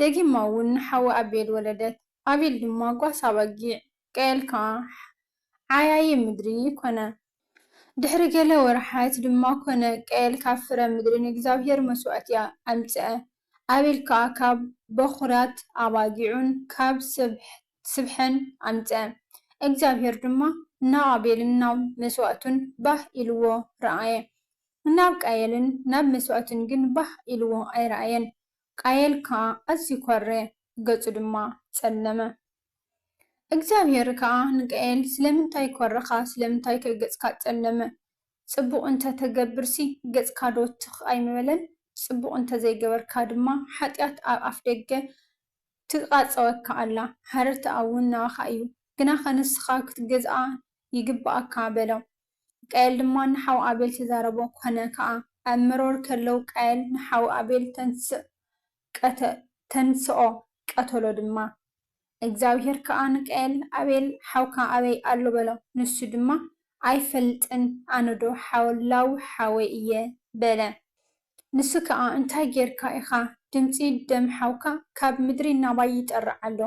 ደጊማ እውን ንሓዊ ኣቤል ወለደት፣ ኣቤል ድማ ጓሳ ኣባጊዕ፣ ቃኤል ከኣ ዓያዪ ምድሪ ኰነ። ድሕሪ ገለ ወርሓት ድማ ኰነ፣ ቃኤል ካብ ፍረ ምድሪ ንእግዚኣብሄር መስዋእቲ ኣምጽአ፣ ኣቤል ከኣ ካብ በዅራት ኣባጊዑን ካብ ስብሐን ኣምጽአ። እግዚኣብሄር ድማ ንኣቤልን ናብ መስዋእቱን ባህ ኢልዎ ረኣየ፣ ናብ ቃኤልን ናብ መስዋእቱን ግን ባህ ኢልዎ ኣይረኣየን። ቃየል ከኣ ኣዝዩ ኰረ፣ ገጹ ድማ ጸለመ። እግዚኣብሄር ከኣ ንቃየል፣ ስለምንታይ ኰረኻ፣ ስለምንታይከ ገጽካ ጸለመ? ጽቡቕ እንተ ትገብርሲ፣ ገጽካዶ ትኽ ኣይምበለን? ጽቡቕ እንተ ዘይገበርካ ድማ፣ ሓጢኣት ኣብ ኣፍደገ ትቓጸወካ ኣላ፣ ሃረርታኣ'ውን ናባኻ እዩ። ግናኸ ንስኻ ክትገዝኣ ይግብኣካ፣ በሎ። ቃየል ድማ ንሓው ኣቤል ተዛረቦ፣ ኰነ ከኣ፣ ኣብ መሮር ከለው ቃየል ንሓው ኣቤል ተንሥእ፣ ቀተ፣ ተንሥኦ፣ ቀተሎ ድማ። እግዚኣብሄር ከኣ ንቃየል፣ ኣቤል ሓውካ ኣበይ ኣሎ? በሎ። ንሱ ድማ፣ ኣይፈልጥን፣ ኣነዶ ሓላው ሓወይ እየ፣ በለ። ንሱ ከኣ፣ እንታይ ጌርካ ኢኻ፣ ድምጺ ደም ሓውካ ካብ ምድሪ ናባይ ይጠርዕ ኣሎ፣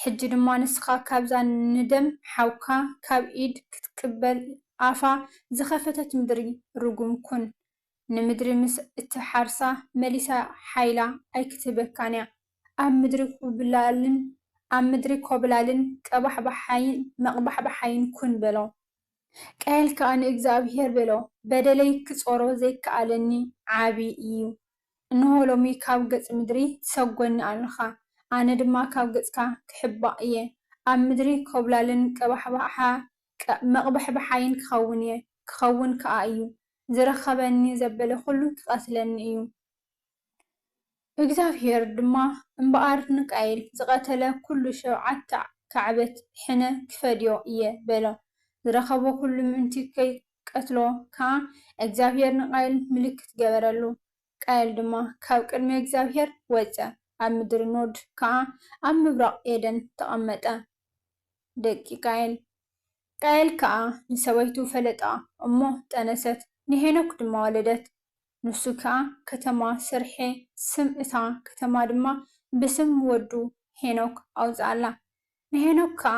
ሕጂ ድማ ንስኻ ካብዛ ንደም ሓውካ ካብ ኢድ ክትቅበል ኣፋ ዝኸፈተት ምድሪ ርጉም ኩን። ንምድሪ ምስ እትሓርሳ መሊሳ ሓይላ ኣይክትህበካን'ያ። ኣብ ምድሪ ኩብላልን ኣብ ምድሪ ኮብላልን ቀባሕባሓይን መቕባሕባሓይን ኩን በሎ። ቃየል ከኣ ንእግዝኣብሄር በሎ፣ በደለይ ክጾሮ ዘይከኣለኒ ዓቢ ኢዩ። እንሆ ሎሚ ካብ ገጽ ምድሪ ትሰጐኒ ኣሎኻ፣ ኣነ ድማ ካብ ገጽካ ክሕባእ እየ፣ ኣብ ምድሪ ኰብላልን ቀባሕባሓ መቕባሕብሓይን ክኸውን እየ፣ ክኸውን ከኣ እዩ፣ ዝረኸበኒ ዘበለ ዅሉ ክቐትለኒ እዩ። እግዚኣብሄር ድማ እምበኣር ንቃየል ዝቐተለ ኵሉ ሸውዓተ ካዕበት ሕነ ክፈድዮ እየ፣ በሎ። ዝረኸቦ ዅሉ ምእንቲ ቀትሎ ከኣ እግዚኣብሄር ንቃየል ምልክት ገበረሉ፣ ቃየል ድማ ካብ ቅድሚ እግዚኣብሄር ወጸ፣ ኣብ ምድሪ ኖድ ከኣ ኣብ ምብራቕ ኤደን ተቐመጠ። ደቂ ቃየል። ቃየል ከኣ ንሰበይቱ ፈለጣ እሞ ጠነሰት፣ ንሄኖክ ድማ ወለደት፣ ንሱ ከኣ ከተማ ሰርሔ ስም እታ ከተማ ድማ ብስም ወዱ ሄኖክ ኣውጽኣላ፣ ንሄኖክ ከኣ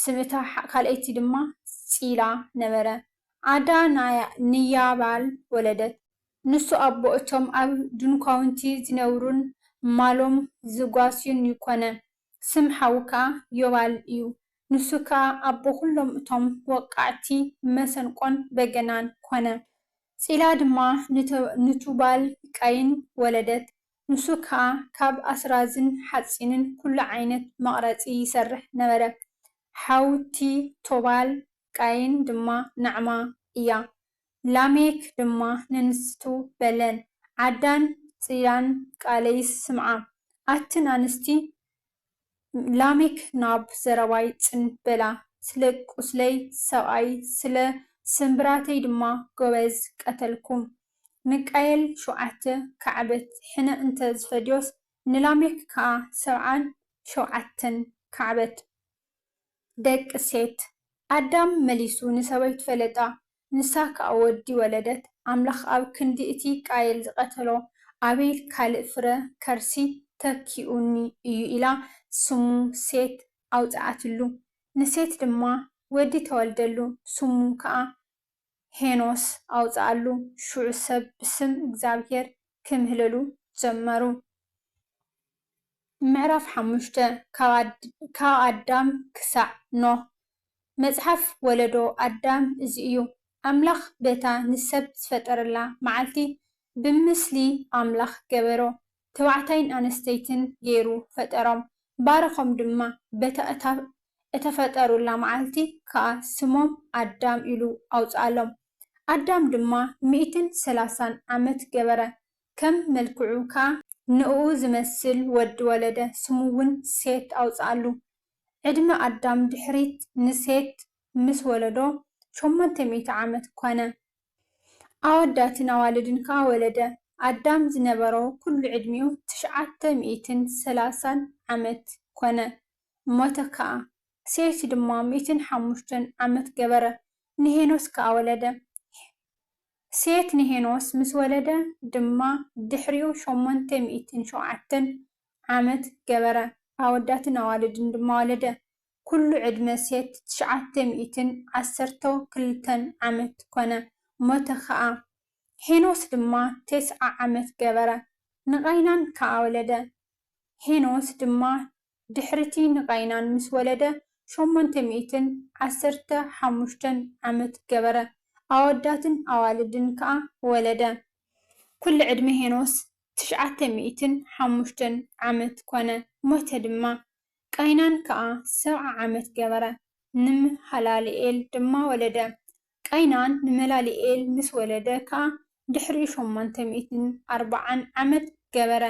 ስም እታ ካልኣይቲ ድማ ጺላ ነበረ። ዓዳ ንያባል ወለደት። ንሱ ኣቦ እቶም ኣብ ድንኳውንቲ ዚነብሩን ማሎም ዚጓስዩን እዩ ኰነ። ስም ሓዉ ከኣ ዮባል እዩ፣ ንሱ ከኣ ኣቦ ዅሎም እቶም ወቃዕቲ መሰንቆን በገናን ኰነ። ጺላ ድማ ንቱባል-ቃይን ወለደት። ንሱ ከኣ ካብ ኣስራዝን ሓጺንን ኩሉ ዓይነት መቕረጺ ይሰርሕ ነበረ። ሓውቲ ቶባል፣ ቃይን፣ ድማ ናዕማ እያ። ላሜክ ድማ ንንስቱ በለን፣ ዓዳን ጽላን ቃለይስ ስምዓ፣ ኣትን ኣንስቲ ላሜክ ናብ ዘረባይ ጽን በላ፣ ስለ ቍስለይ ሰብኣይ፣ ስለ ስምብራተይ ድማ ጐበዝ ቀተልኩም። ንቃየል ሸውዓተ ካዕበት ሕነ እንተ ዝፈድዮስ፣ ንላሜክ ከኣ ሰብዓን ሸውዓተን ካዕበት። ደቂ ሴት። ኣዳም መሊሱ ንሰበይቱ ፈለጣ፣ ንሳ ክኣ ወዲ ወለደት ኣምላኽ ኣብ ክንዲ እቲ ቃየል ዝቀተሎ ኣቤል ካልእ ፍረ ከርሲ ተኪኡኒ እዩ ኢላ ስሙ ሴት ኣውጽኣትሉ ንሴት ድማ ወዲ ተወልደሉ ስሙ ክኣ ሄኖስ ኣውጽኣሉ ሽዑ ሰብ ብስም እግዚኣብሄር ክምህለሉ ጀመሩ። ምዕራፍ ሓሙሽተ፣ ካብ ኣዳም ክሳዕ ኖህ፣ መጽሓፍ ወለዶ ኣዳም እዚ እዩ። ኣምላኽ በታ ንሰብ ዝፈጠረላ መዓልቲ ብምስሊ ኣምላኽ ገበሮ፣ ተባዕታይን ኣንስተይትን ገይሩ ፈጠሮም፣ ባረኾም ድማ፣ በታ እታ እተፈጠሩላ መዓልቲ ከኣ ስሞም ኣዳም ኢሉ ኣውጽኣሎም። ኣዳም ድማ ሚእትን ሰላሳን ዓመት ገበረ፣ ከም መልክዑ ካኣ ንእኡ ዝመስል ወዲ ወለደ ስሙ ውን ሴት ኣውጽኣሉ ዕድመ ኣዳም ድሕሪት ንሴት ምስ ወለዶ ሸሞንተ ሚእቲ ዓመት ኮነ ኣወዳትን ኣዋልድን ካኣ ወለደ ኣዳም ዝነበሮ ኩሉ ዕድሚኡ ትሽዓተ ሚእትን ሰላሳን ዓመት ኮነ ሞተ ካኣ ሴት ድማ ሚእትን ሓሙሽተን ዓመት ገበረ ንሄኖስ ካኣ ወለደ ሴት ንሄኖስ ምስ ወለደ ድማ ድሕሪኡ ሸሞንተ ሚእትን ሸውዓተን ዓመት ገበረ፣ ኣወዳትን ኣዋልድን ድማ ወለደ። ኩሉ ዕድመ ሴት ትሽዓተ ሚእትን ዓሰርተው ክልተን ዓመት ኮነ፣ ሞተ ኸኣ። ሄኖስ ድማ ቴስዓ ዓመት ገበረ፣ ንቓይናን ከኣ ወለደ። ሄኖስ ድማ ድሕሪ'ቲ ንቃይናን ምስ ወለደ ሸሞንተ ሚእትን ዓሰርተ ሓሙሽተን ዓመት ገበረ፣ ኣወዳትን ኣዋልድን ከኣ ወለደ። ኵሉ ዕድመ ሄኖስ ትሽዓተ ሚእትን ሓሙሽተን ዓመት ኰነ፣ ሞተ ድማ። ቃይናን ከኣ ሰብዓ ዓመት ገበረ፣ ንመሃላልኤል ድማ ወለደ። ቃይናን ንመላልኤል ምስ ወለደ ከኣ ድሕሪኡ ሾማንተ ሚእትን ኣርብዓን ዓመት ገበረ፣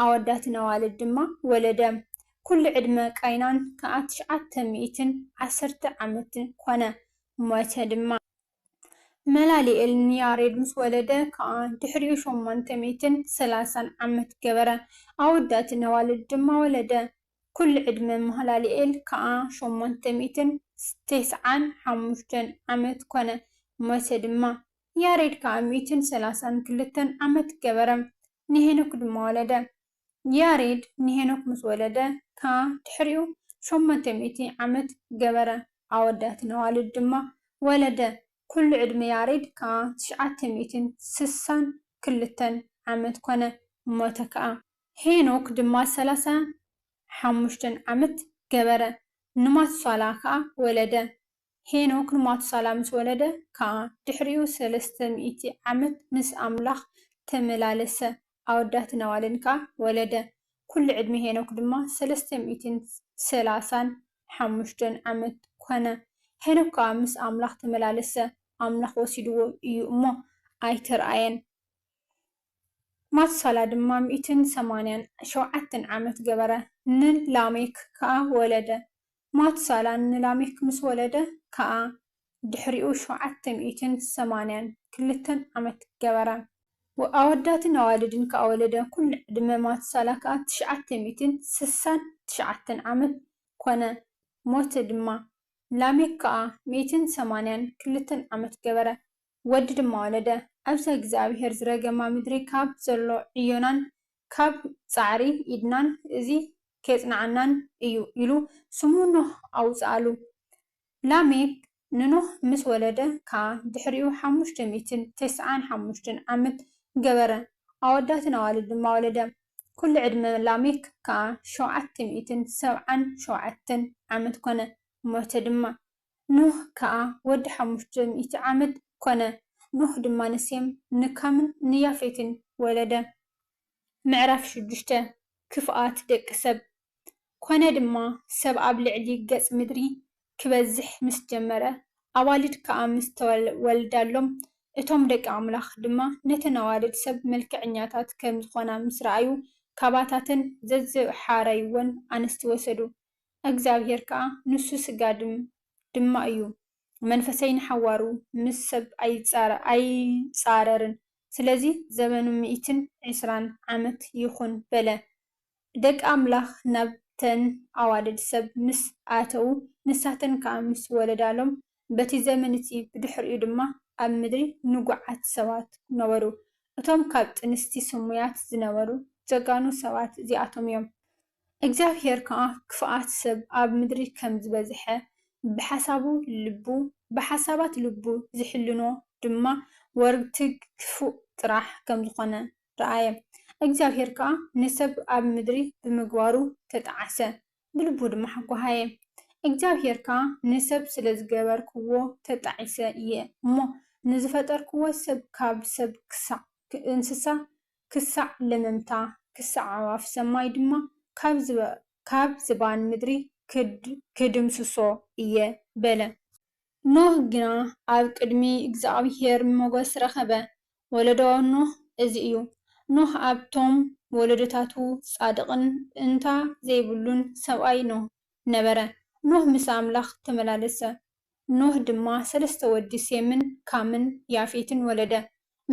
ኣወዳትን ኣዋልድ ድማ ወለደ። ኵሉ ዕድመ ቃይናን ከኣ ትሽዓተ ሚእትን ዓሰርተ ዓመት ኰነ፣ ሞተ ድማ። መላልኤል ንያሬድ ምስ ወለደ ከኣ ድሕሪኡ ሾማንተ ሚእትን ሰላሳን ዓመት ገበረ፣ ኣወዳትን ኣዋልድ ድማ ወለደ። ኩሉ ዕድመ ማህላልኤል ከኣ ሸሞንተ ሚእትን ቴስዓን ሓሙሽተን ዓመት ኮነ፣ ሞተ ድማ። ያሬድ ከኣ ሚእትን ሰላሳን ክልተን ዓመት ገበረ፣ ንሄኖክ ድማ ወለደ። ያሬድ ንሄኖክ ምስ ወለደ ከኣ ድሕሪኡ ሸሞንተ ሚእቲ ዓመት ገበረ፣ ኣወዳትን ኣዋልድ ድማ ወለደ፣ ኩሉ ዕድመ ያሬድ ከኣ ትሽዓተ ሚእትን ስሳን ክልተን ዓመት ኮነ፣ ሞተ ከኣ። ሄኖክ ድማ ሰላሳን ሓሙሽተን ዓመት ገበረ፣ ንማቱሳላ ከኣ ወለደ። ሄኖክ ንማቱሳላ ምስ ወለደ ከኣ፣ ድሕሪኡ ሰለስተ ሚእቲ ዓመት ምስ ኣምላኽ ተመላለሰ፣ ኣወዳትን ኣዋልድን ከኣ ወለደ። ኵሉ ዕድመ ሄኖክ ድማ ሰለስተ ሚእትን ሰላሳን ሓሙሽተን ዓመት ኰነ። ሄኖክ ከኣ ምስ ኣምላኽ ተመላለሰ፣ ኣምላኽ ወሲድዎ እዩ እሞ፣ ኣይተርኣየን። ማቱሳላ ድማ ሚእትን ሰማንያን ሸውዓተን ዓመት ገበረ፣ ንላሜክ ከኣ ወለደ። ማቱሳላ ንላሜክ ምስ ወለደ ከኣ፣ ድሕሪኡ ሸውዓተ ሚእትን ሰማንያን ክልተን ዓመት ገበረ። ኣወዳትን ኣዋልድን ከኣ ወለደ፣ ኵሉ ዕድመ ማቱሳላ ከኣ ትሽዓተ ሚእትን ስሳን ትሽዓተን ዓመት ኰነ፣ ሞተ ድማ። ላሜክ ከኣ ሚእትን ሰማንያን ክልተን ዓመት ገበረ፣ ወዲ ድማ ወለደ። ኣብዛ እግዚኣብሄር ዝረገማ ምድሪ ካብ ዘሎ ዕዮናን ካብ ጻዕሪ ኢድናን እዚ ኼጽንዓናን እዩ ኢሉ ስሙ ኖህ ኣውጽኣሉ። ላሜክ ንኖህ ምስ ወለደ ከኣ ድሕሪኡ ሓሙሽተ ሚእትን ተስዓን ሓሙሽተን ዓመት ገበረ፣ ኣወዳትን ኣዋልድ ድማ ወለደ። ኵሉ ዕድመ ላሜክ ከኣ ሸውዓተ ሚእትን ሰብዓን ሸውዓተን ዓመት ኰነ፣ ሞተ ድማ። ኖህ ከኣ ወዲ ሓሙሽተ ሚእቲ ዓመት ኰነ። ኖህ ድማ ንሴም፣ ንካምን ንያፌትን ወለደ። ምዕራፍ ሽዱሽተ፣ ክፍኣት ደቂ ሰብ። ኰነ ድማ፣ ሰብ ኣብ ልዕሊ ገጽ ምድሪ ኪበዝሕ ምስ ጀመረ፣ ኣዋልድ ከኣ ምስ ተወልዳሎም፣ እቶም ደቂ ኣምላኽ ድማ ነተን ኣዋልድ ሰብ መልክዐኛታት ከም ዝዀና ምስ ረኣዩ፣ ካባታተን ዘዝሓረዩወን ኣንስቲ ወሰዱ። እግዚኣብሄር ከኣ ንሱ ስጋ ድም ድማ እዩ፣ መንፈሰይ ንሓዋሩ ምስ ሰብ ኣይጻረርን፣ ስለዚ ዘበኑ ሚእትን ዕስራን ዓመት ይኹን በለ። ደቂ ኣምላኽ ናብተን ኣዋልድ ሰብ ምስ ኣተዉ፣ ንሳተን ከኣ ምስ ወለዳሎም፣ በቲ ዘመን እቲ ብድሕሪኡ ድማ ኣብ ምድሪ ንጉዓት ሰባት ነበሩ። እቶም ካብ ጥንስቲ ስሙያት ዝነበሩ ጀጋኑ ሰባት እዚኣቶም እዮም። እግዚኣብሄር ከኣ ክፍኣት ሰብ ኣብ ምድሪ ከም ዝበዝሐ ብሓሳቡ ልቡ ብሓሳባት ልቡ ዝሕልኖ ድማ ወርግትግ ክፉእ ጥራሕ ከም ዝኾነ ረኣየ። እግዚኣብሄር ከኣ ንሰብ ኣብ ምድሪ ብምግባሩ ተጠዓሰ። ብልቡ ድማ ሓጓሃየ። እግዚኣብሄር ከኣ፣ ንሰብ ስለ ዝገበርክዎ ተጣዒሰ እየ እሞ፣ ንዝፈጠርክዎ ሰብ ካብ ሰብ ክሳዕ እንስሳ፣ ክሳዕ ለመምታ፣ ክሳዕ ኣዕዋፍ ሰማይ ድማ ካብ ዝባን ምድሪ ክድምስሶ እየ በለ። ኖህ ግና ኣብ ቅድሚ እግዚኣብሄር ሞገስ ረኸበ። ወለዶ ኖህ እዚ እዩ። ኖህ ኣብቶም ወለዶታቱ ጻድቕን እእንታ ዘይብሉን ሰብኣይ ኖህ ነበረ። ኖህ ምስ ኣምላኽ ተመላለሰ። ኖህ ድማ ሰለስተ ወዲ ሴምን ካምን ያፌትን ወለደ።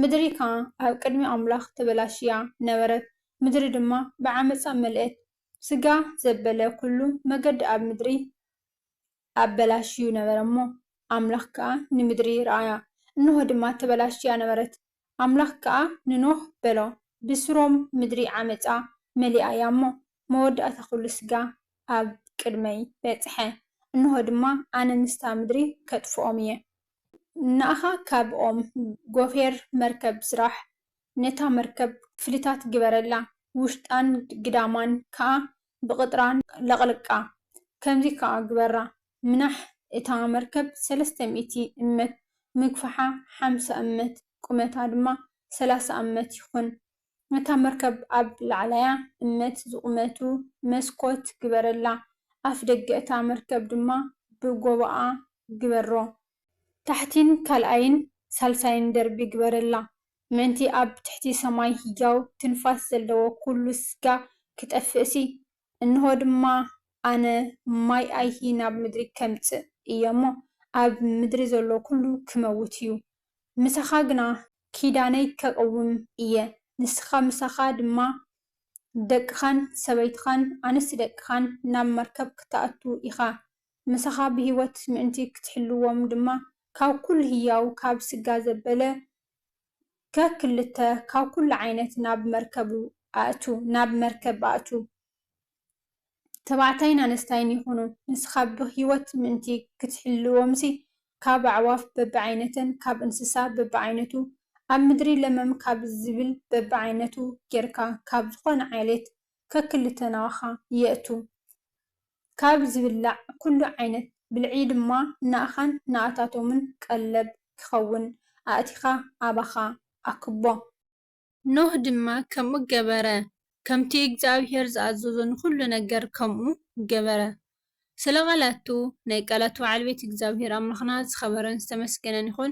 ምድሪ ከኣ ኣብ ቅድሚ ኣምላኽ ተበላሽያ ነበረት፣ ምድሪ ድማ ብዓመጻ መልእት። ስጋ ዘበለ ኩሉ መገዲ ኣብ ምድሪ። ኣበላሽዩ ነበረ እሞ፣ ኣምላኽ ከኣ ንምድሪ ረኣያ፣ እንሆ ድማ ተበላሽያ ነበረት። ኣምላኽ ከኣ ንኖህ በሎ፣ ብስሮም ምድሪ ዓመጻ መሊኣ እያ እሞ፣ መወዳእታ ዅሉ ስጋ ኣብ ቅድመይ በጽሐ፣ እንሆ ድማ ኣነ ምስታ ምድሪ ከጥፍኦም እየ። ንኣኻ ካብ ኦም ጐፌር መርከብ ስራሕ፣ ነታ መርከብ ክፍልታት ግበረላ፣ ውሽጣን ግዳማን ከኣ ብቕጥራን ለቕልቃ። ከምዚ ከኣ ግበራ፣ ምናሕ እታ መርከብ ሰለስተ ሚእቲ እመት፣ ምግፋሓ ሓምሳ እመት፣ ቁመታ ድማ ሰላሳ እመት ይኹን። ነታ መርከብ ኣብ ላዕላያ እመት ዝቑመቱ መስኮት ግበረላ፣ ኣፍደገ እታ መርከብ ድማ ብጎቦኣ ግበሮ። ታሕቲን ካልኣይን ሳልሳይን ደርቢ ግበረላ፣ ምእንቲ ኣብ ትሕቲ ሰማይ ህያው ትንፋስ ዘለዎ ኵሉ ስጋ ኺጠፍእሲ፣ እንሆ ድማ፣ ኣነ ማይ ኣይሂ ናብ ምድሪ ኸምጽእ እየ እሞ፣ ኣብ ምድሪ ዘሎ ዅሉ ኪመውት እዩ። ምሳኻ ግና ኪዳነይ ከቕውም እየ፣ ንስኻ ምሳኻ ድማ ደቅኻን ሰበይትኻን ኣንስቲ ደቅኻን ናብ መርከብ ክትኣቱ ኢኻ፣ ምሳኻ ብህይወት ምእንቲ ክትሕልዎም ድማ ካብ ኩሉ ህያው ካብ ስጋ ዘበለ ከክልተ ካብ ኩሉ ዓይነት ናብ መርከቡ ኣእቱ ናብ መርከብ ኣእቱ ተባዕታይን ኣነስታይን ይኹኑ ንስኻ ብህይወት ምእንቲ ክትሕልዎምሲ ካብ ኣዕዋፍ በብዓይነተን ካብ እንስሳ በብዓይነቱ ኣብ ምድሪ ለመም ካብ ዝብል በብዓይነቱ ጌርካ ካብ ዝኾነ ዓሌት ከክልተ ናባኻ የእቱ። ካብ ዝብላዕ ኩሉ ዓይነት ብልዒ ድማ ናእኻን ናኣታቶምን ቀለብ ኪኸውን ኣእቲኻ ኣባኻ ኣክቦ። ኖህ ድማ ከምኡ ገበረ፣ ከምቲ እግዚኣብሄር ዝኣዘዞ ንኹሉ ነገር ከምኡ ገበረ። ስለ ቓላቱ፣ ናይ ቃላቱ ባዓልቤት እግዚኣብሄር ኣምላኽና ዝኸበረን ዝተመስገነን ይኹን፣